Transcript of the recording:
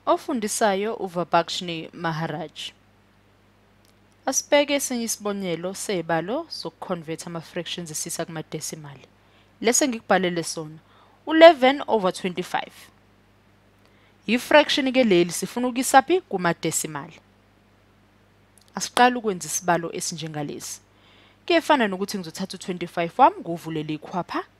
Ofundisayo uVabakshni Maharaj. Asibheke esinye isibonelo sezibalo zokuconverta ama-fractions esisa kuma-decimal. Lesi engikubhalele sona, u-11 over 25. Yi-fraction ke leli sifuna ukuyisa phi kuma-decimal. Asiqale ukwenza isibalo esinjengalesi. Kuyefana nokuthi ngizothatha u-25 wami ngiwuvulele ikhwapha